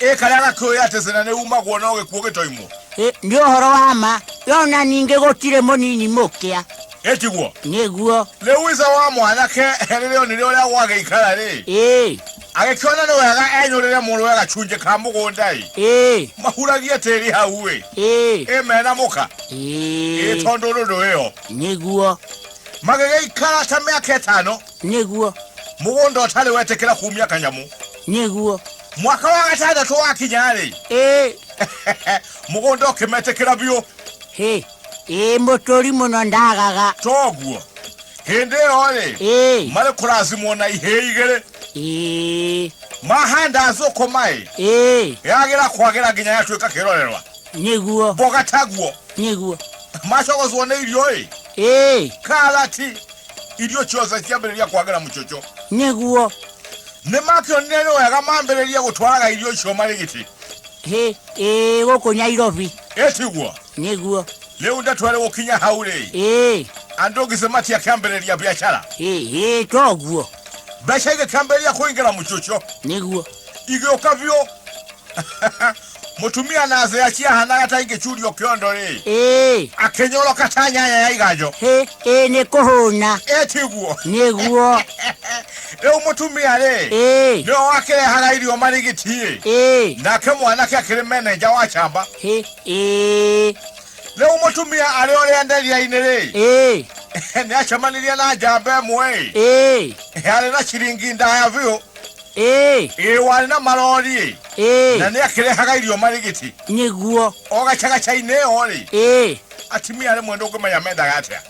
Ĩ karĩa gakĩũĩ atĩ cĩna nĩ umagwo no gĩkuũ gĩtoimwo. Ĩ, nĩ ũhoro wa ma yona ningĩ gũtirĩ mũnini mũkĩa Ĩtiguo. nĩguo Rĩu ithe wa mwanake rĩrĩa onire ũrĩa gwagĩikara rĩ, ĩ agĩkĩona nĩ wega enyũrĩre mũrũwe gacunjĩ ka mũgũnda ĩ, ĩ mahuragie tĩri hau ĩ, ĩ ĩ mena mũka ĩ ĩ tondũ ndũndũ ĩyo. nĩguo Magĩgĩikara ta mĩaka ĩtano. Nĩguo. Mũgũnda ũtarĩ wetĩkĩra kumia kanyamũ. Nĩguo. Mwaka wa gatandatũ wakinya-rĩ. Ĩĩ. Mũgũnda ũkĩmetĩkĩra biũ. Hĩ. Ĩĩ mũtũri mũno ndagaga. Toguo. Hĩndĩ ĩyo-rĩ. Ĩĩ. Marĩ kũracimwo na ihĩĩ igĩrĩ. Ĩĩ. Mahanda thũkũma-ĩ. Ĩĩ. Yagĩra kwagĩra nginya yatuĩka kĩrorerwa. Nĩguo. Mboga taguo. Nĩguo. Macogocwo nĩ irio-ĩ. Ĩĩ. Karati. irio ciothe ciambĩrĩria kwagĩra mũcoco nĩguo nĩ makĩonire nĩ wega mambĩrĩria gũtwaraga irio icio marĩ gĩtĩ hĩ ĩ gũkũ nyairobi ĩtiguo nĩguo rĩu ndeto ĩrĩ gũkinya hau rĩ ĩ andũ ngĩcĩ matiakĩambĩrĩria biacara ĩ ĩ toguo mbeca igĩkĩambĩrĩria kũingĩra mũcoco nĩguo igĩũka biũ Mũtumia na thũ yake ahanaga ta ingĩcurio kĩondo rĩ. Ĩĩ. Akĩnyoroka ta nyanya ya iganjo. Hĩ, ĩĩ nĩ kũhũna. Ĩĩ tiguo. Nĩguo. Rĩu mũtumia rĩ. Ĩĩ. Nĩwe wakĩrehaga irio marigiti ĩ. Ĩĩ. Nake mwanake akĩrĩ menenja wa camba. Hĩ, ĩĩ. Rĩu mũtumia arĩ ũrĩa nderia-inĩ rĩ. Ĩĩ. Nĩacemanirie na njamba ĩmwe ĩ. Ĩĩ. Yarĩ na ciringi ndaya biũ. ĩĩ warĩ na marori ĩĩ na nĩ akĩrehaga irio marigiti nĩguo o gacagaca-inĩ ĩyo rĩ ĩĩ atimia rĩmwe ndũngĩmenya mendaga atĩa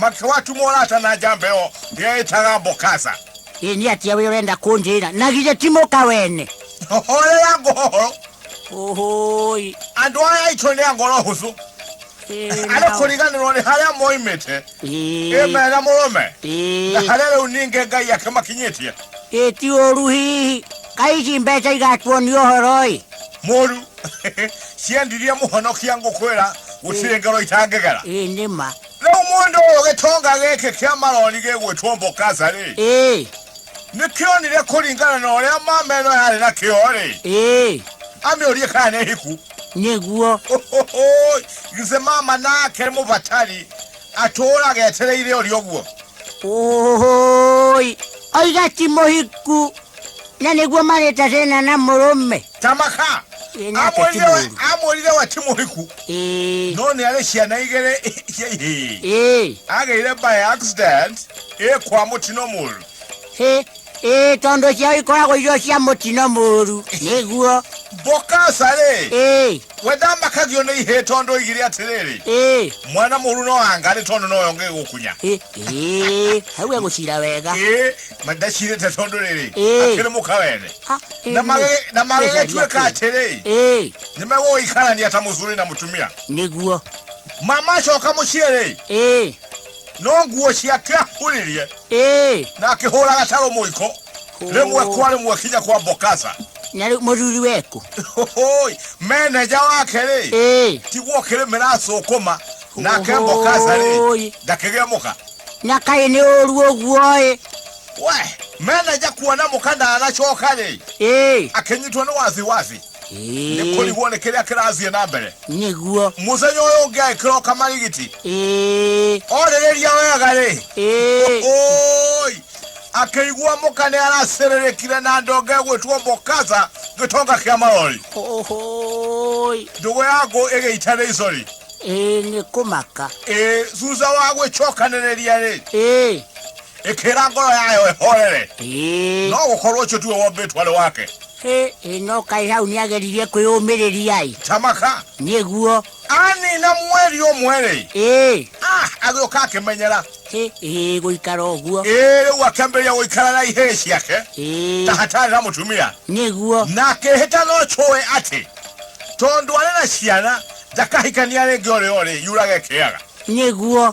makĩwatumwo rata na njamba ĩyo yeĩtaga mbokasa ĩĩ nĩ atia wĩ ũrenda kũnjĩra na githĩ ti mũka wene horera ngũhoro ũhũi andå aya aitå nä a ngoro hå cå arĩkũriganĩrwo nĩ harĩa moimĩte ĩ mega mũrũme na harĩa rĩu ningĩ ngai ake makinyĩtie ĩ ti ũru hihi kai ici mbeca igatuonia ũhoro-ĩ mũru ciendirie mũhonokia ngũkwĩra gũtirĩ ngero itangĩgera ĩ nĩ ma rĩu mũndũ ũyũ gĩtonga gĩkĩ kĩa maroni gĩgwĩtwo mbokasa-rĩ ĩ nĩ kĩonire kũringana na ũrĩa mameno yarĩ na kĩo-rĩ ĩ amĩũrie kana nĩ hiku nĩguo githĩ mama nake mũbatari atũũraga etereire ũrĩ ũguo ũhũi oiga ti mũhiku na nĩguo marĩta thĩna na mũrũme tamaka Ĩ, nake ti amwĩrire we- mũũru. amwĩrire we ti mũhiku Ĩ, no nĩ arĩ ciana igĩrĩ cia ihĩĩ ĩ. agĩire by accident ĩkwa mũtino mũru Ĩ, ĩ, tondũ ciao ikoragwo irio cia mũtino mũũru nĩguo Bokasa rĩ ĩ we ndamakagio nĩ ihĩĩ tondũ oigire atĩrĩrĩ ĩ mwana mũru no anga nĩ tondũ noyo ngĩgũkunya ĩ ĩ hau egũcira wega ĩ mandacirĩte tondũ rĩrĩ Ĩ. akĩrĩ mũka wene Ah, ĩ, Na nĩ- magĩ- na magĩgĩtuĩka atĩrĩ ĩ nĩ megũgĩikarania ta mũthuri na mũtumia nĩguo mamacoka mũciĩ rĩ ĩ no nguo ciake ahũrĩrie ĩĩ na akĩhũra gatarũ mũiko rĩmwe kwa rĩmwe kinya kwa mbokasa na rĩu mũthuri weku Hoi, meneja wake rĩ ĩĩ tiguo kĩrĩmĩra acũkũma nake mbokasa rĩ Hoi. ndakĩgĩa mũka na kaĩ nĩ ũru ũguo ĩ we meneja kuona mũka ndanacoka rĩ ĩĩ akĩnyitwo nĩ wasiwasi nĩ Ĩĩ, kũrigwo nĩ kĩrĩa kĩrathiĩ na mbere nĩguo mũthenya ũyũ ũngĩ agĩkĩra ũkamarigiti Ĩĩ, orĩrĩria wega rĩ ĩĩ, oi akĩigua mũka nĩ aracĩrĩrĩkire na ndonge gwĩtwo mbokaza gĩtonga kĩa marori ohoi ndũgũ ya ngũ ĩgĩita nĩ icori Ĩĩ, nĩ kũmaka ĩ thutha wa gwĩcokanĩrĩria rĩ Ĩĩ, ĩkĩra ngoro yayo ĩhorere no gũkorwo ũcio tiwe wombĩtwo arĩ wake ĩno kaĩ hau nĩ ageririe kwĩyũmĩrĩria-ĩ tamaka nĩguo anina mweri ũmwe-rĩ ĩĩ ah, agĩũka akĩmenyera ĩĩ gũikara ũguo ĩĩ rĩu akĩambĩrĩria gũikara na ihĩĩ ciake ta hatarĩ na mũtumia nĩguo na akĩhĩta no cũĩ atĩ tondũ arĩ na ciana ndakahikania rĩngĩ ũrĩa ũrĩ yurage kĩaga nĩguo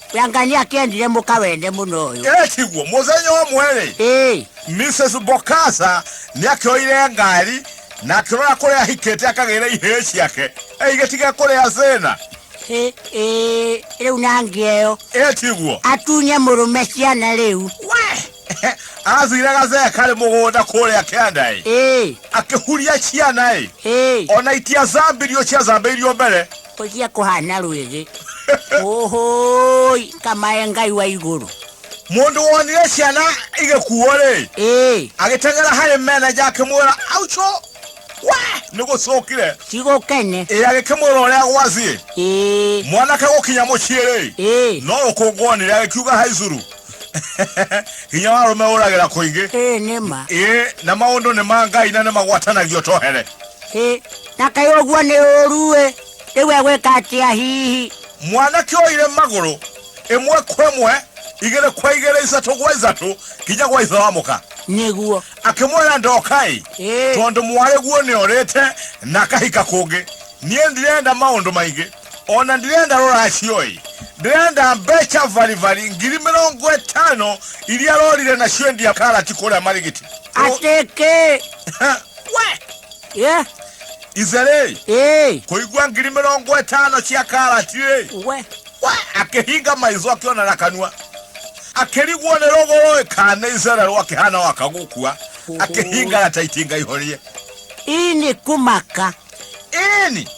we ngai nĩ akĩendire mũka wende mũno ũyũ ĩ tiguo mũthenya ũmwe rĩ ĩĩ mrs bokasa nĩ akĩoire ngari na akĩrora kũrĩa ahikĩte akagĩre ihĩĩ ciake eigĩtige kũrĩa thĩna ĩ- ĩ- rĩu na ngĩeyo ĩ tiguo atunye mũrũme ciana rĩu we athire gathee karĩ mũgũnda kũrĩa kĩanda ĩ ĩĩ akĩhuria ciana ĩ ĩĩ ona itiathambirio ciathambĩirio mbere Kũjia kũhana rwĩgĩ. Ũhũi, kamae Ngai wa igũrũ. Mũndũ wonire ciana igĩkuo-rĩ, Ĩĩ, agĩteng'era harĩ meneja akĩmwĩra, auco, we nĩ gũcokire. cigũkene. Ĩ agĩkĩmwĩra ũrĩa gwathiĩ. Ĩĩ, Mwanake gũkinya mũciĩ-rĩ, ĩĩ, no rũkũngũ onire agĩkiuga haicuru. Hinya wa arũme ũragĩra kũingĩ. ĩĩ nĩ ma. Ĩ na maũndũ nĩ ma Ngai na nĩ magwatanagio tohere. Ĩĩ, Na kaĩ ũguo nĩ ũũru-ĩ, rĩu egwĩka atĩa hihi? Mwanake oire magũrũ ĩmwe kwa ĩmwe, igĩrĩ kwa igĩrĩ, ithatũ gwa ithatũ, nginya gwa ithe wa mũka. Nĩguo. Akĩmwĩra, Ndoka-ĩ, Ĩĩ. tondũ mwarĩguo nĩorĩte na akahika kũngĩ. Niĩ ndirenda maũndũ maingĩ, o na ndirenda rũracio-ĩ, ndĩrenda mbeca baribari ngiri mĩrongo ĩtano iria arorire nacio endia karati kũrĩa Marigiti. Atĩ kĩ? We! yeah. izere hey. kuigua ngiri mirongo itano cia karati we akihinga maizo akiona na kanua akirigwo ni ruguru ikane izere rwakihana wakagukua akihinga na taitinga ihorie ini kumaka ini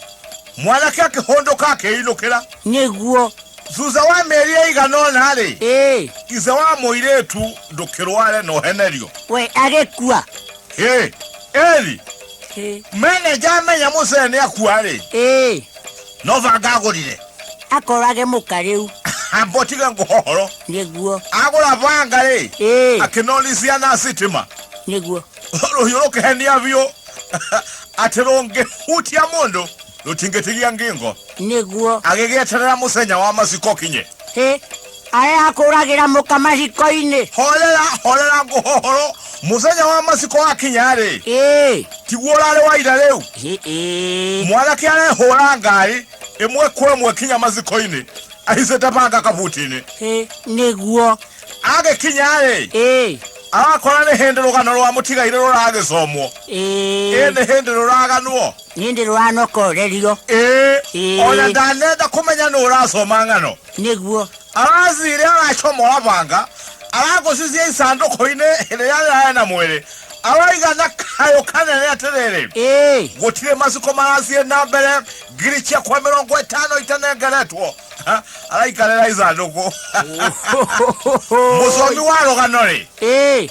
mwanake akihunduka akiinukira niguo thutha wa mĩeri ĩigana ũna-rĩ ithe wa mũirĩtu ndũkĩrware na ũhenerio we agĩkua Ĩ, Eli, Ĩ, meneja amenya mũcee nĩ akua rĩ ĩ no banga agũrire akorage mũka rĩu ambotige ngũhohoro nĩguo agũra banga rĩ ĩ akĩnonisia na sitima nĩguo rũhiũ rũkĩhenia biũ atĩ rũngĩhutia mũndũ rũtingĩtigia ngingo nĩguo agĩgĩeterera mũcenya wa maciko kinye ĩ arĩa akũragĩra mũka maciko-inĩ horera horera ngũhohoro mũthenya wa maciko wakinya-rĩ ĩĩ tiguo ũrarĩ wa ira rĩu ĩ- ĩ. mwanake arehũra ngaĩ ĩmwe kwa ĩmwe kinya maciko-inĩ ahicĩte banga kabuti-inĩ Ĩ, nĩguo agĩkinya-rĩ ĩĩ arakora nĩ hĩndĩ rũgano rwa mũtigairĩ rũragĩcomwo ĩ ĩĩ nĩ hĩndĩ rũraganwo nĩ ndĩ rũranokorerio ĩĩ Ĩĩ. ona ndanenda kũmenya nũ ũracoma ng'ano Nĩguo. Arathiire aracomora banga, aragũcicie isandũkũ-inĩ rĩrĩa rĩraarĩ na mwĩrĩ, aroiga na kayũ kanene atĩrĩrĩ, Ĩĩ. gũtirĩ macuko marathiĩ na mbere, ngiri ciakwa mĩrongo ĩtano itanengeretwo. Ha, Araikarĩra isandũkũ. Mũcomi wa rũgano-rĩ, Ĩĩ.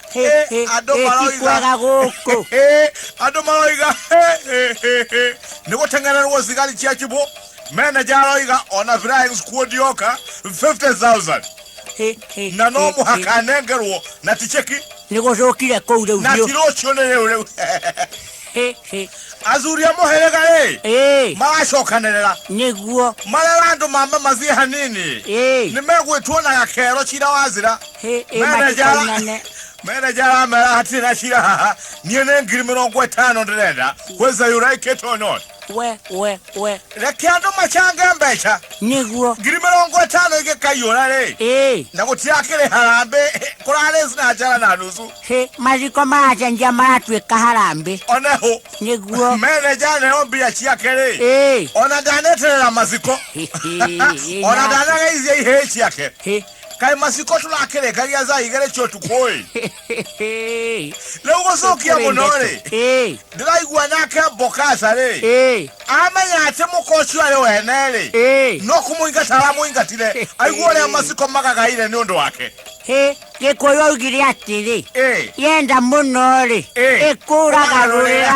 Hĩ, Ĩ, hĩ, andũ hĩ, maroiga. tikwega gũkũ. Ĩ, andũ maroiga hĩ, hĩ, hĩ, hĩ. nĩ gũteng'ererwo cigari cia kibũ meneja aroiga ona flyings kuo ndioka 50000 Hĩ, hĩ, na no hĩ, hĩ. mũhaka anengerwo na ticheki nĩ gũcũkire kũu rĩu na biũ ti rũciũ nĩ rĩu rĩu athuri a mũhĩrĩga rĩ Ĩĩ, maracokanĩrĩra nĩguo marera andũ mambe mathiĩ hanini Ĩĩ, nĩ megwĩtuo na gakero cira wa nzĩra ĩ- ĩ Manager. matikainane meneja aramera hatirĩ na cira haha niĩ nĩ ngiri mĩrongo ĩtano ndĩrenda kwĩza yũraikĩtwo not we we we reke andũ macange mbeca nĩguo ngiri mĩrongo ĩtano igĩkaiyũra rĩ ĩĩ na gũtirakĩrĩ harambĩ kũrarĩ na njara na nusu Hĩ, mathiko maracenjia maratuĩka harambĩ one hũ nĩguo meneja aneo mbia ciake-rĩ Ĩ. ona ndaneterera maciko ona ndanageithia ihĩĩ ciake Hĩ. kaĩ maciko tũrakĩrĩkagia thaa igĩrĩ cia ũtukũ-ĩ rĩu gũcokia mũno-rĩ Ĩ, ndĩraigua nake mbokaca-rĩ ĩ, amenya atĩ mũka ũcio arĩ wene-rĩ ĩ, no kũmũingata aramũingatire aigua ũrĩa maciko magagaire nĩ ũndũ wake hĩ. gĩkũyũ augire atĩrĩ Eh. yenda mũno rĩ Eh. ĩkũragarũrĩra